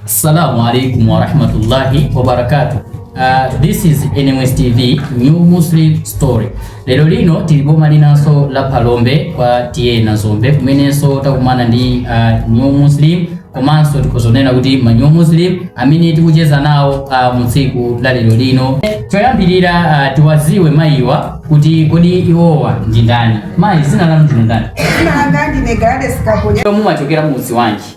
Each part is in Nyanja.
Assalamu alaikum warahmatullahi wabarakatuh. Uh, this is NMS TV New Muslim Story. Lero lino tili m'boma linanso la Phalombe kwa T/A Nazombe kumenenso takumana ndi uh, New Muslim komanso tikudzaona kuti ma New Muslim amene tikucheza nawo uh, mu tsiku la lero lino. Choyambirira uh, tiwaziwe mayiwa kuti kodi iwowa ndi ndani. Mayi zina lanu ndi ndani? Dzina langa ndine Gladys Kaponya. Mumachokera mudzi wanji?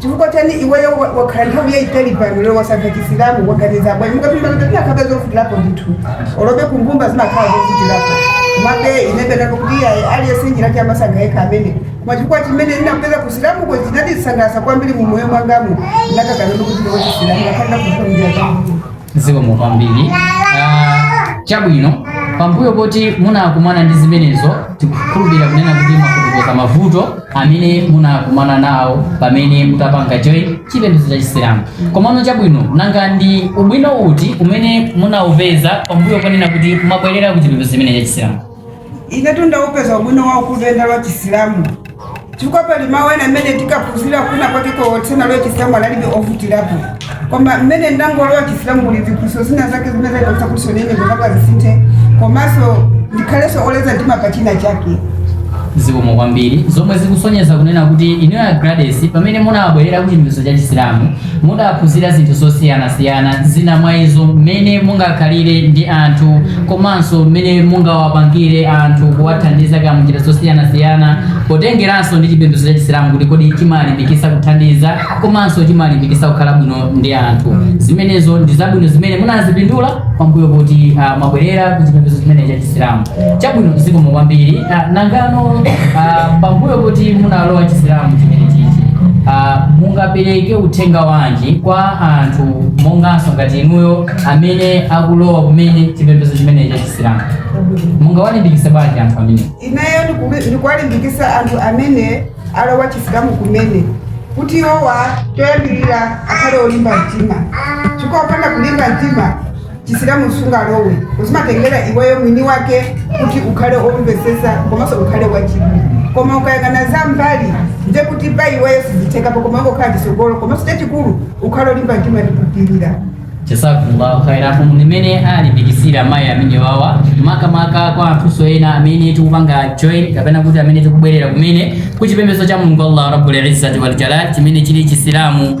chifukwa chani iweyo wa- wakhala nthawi yayitali pano lero wasankha chisilamu waganiza bwanji mukapinda kuti komabe zovutilapo ndithu olo kunyumba zimakhala zovutilapo komabe ine ndinati kuti iyayi aliyense njiratu amasankha yekha amene koma chifukwa chimene ndinapeza kuchisilamuko chinandisangalatsa kwambiri mu moyo mwangamu ndakakanono kuti ndiwo chisilamu akhalira kufa mnjira zangu zikomo kwambiri Ah, chabwino pambuyo poti munakumana ndi zimenezo tikukhulupirira kunena kuti mwafotokoza mavuto amene munakumana nawo pamene munapanga join chipembedzo cha chisilamu komano chabwino nanga ndi ubwino uti umene munaupeza pambuyo ponena kuti mwabwerera ku chipembedzo chimene cha chisilamu Inetu ndaupeza ubwino waukulu nditalowa chisilamu chifukwa pali mawu ena amene tinkaphunzira kwinakwake ndisanalowe chisilamu analibe ovutirapo koma mmene ndangolowa chisilamu kuli ziphunzitso zina zake zimene zandichititsa kuti nane zopanga zisinthe komanso ndikhalenso oleza mtima pa china chake zikomo kwambiri zomwe zikusonyeza kunena kuti inuyo a Gladys pamene munabwerera ku chipembedzo cha chisilamu mudaphunzira zinthu zosiyanasiyana zina mwa izo mmene mungakhalire ndi anthu komanso mmene mungawapangire anthu kuwathandiza kaya munjira zosiyanasiyana potengeranso ndi chipembedzo cha chisilamu kuti kodi chimalimbikisa kuthandiza komanso chimalimbikisa kukhala bwino ndi anthu zimenezo ndi zabwino zimene munazipindula pambuyo poti ah, mwabwerera ku chipembedzo chimene cha chisilamu chabwino zikomo kwambiri Ah, nangano ah, pambuyo poti munalowa chisilamu chimene chichi ah, mungapereke uthenga wanji kwa anthu monganso ngati inuyo amene akulowa kumene chipembedzo chimene cha chisilamu mungawalimbikise bwanji anthu amene ineyo ndikubi- ndikuwalimbikisa anthu amene alowa chisilamu kumene kuti iwowa choyambirira akhale olimba mtima chifukwa kupanda kulimba mtima chisilamu sungalowe zimatengera iweyo mwini wake kuti ukhale omvesesa komanso ukhale wachidwi koma ukayang'ana za m'mbali ndiye kuti pa iweyo sizithekapo koma ungoyang'ana chisogolo komanso chachikulu ukhale olimba mtima ndikupirira jazakumullahu khaira umu ndi mmene alimbikisira amayi amene wawa makamaka kwa anthuso ena amene tikupanga join kapena kuti amene tikubwerera kumene ku chipembedzo cha mulungu allah rabbul izzati wal jalal chimene chili chisilamu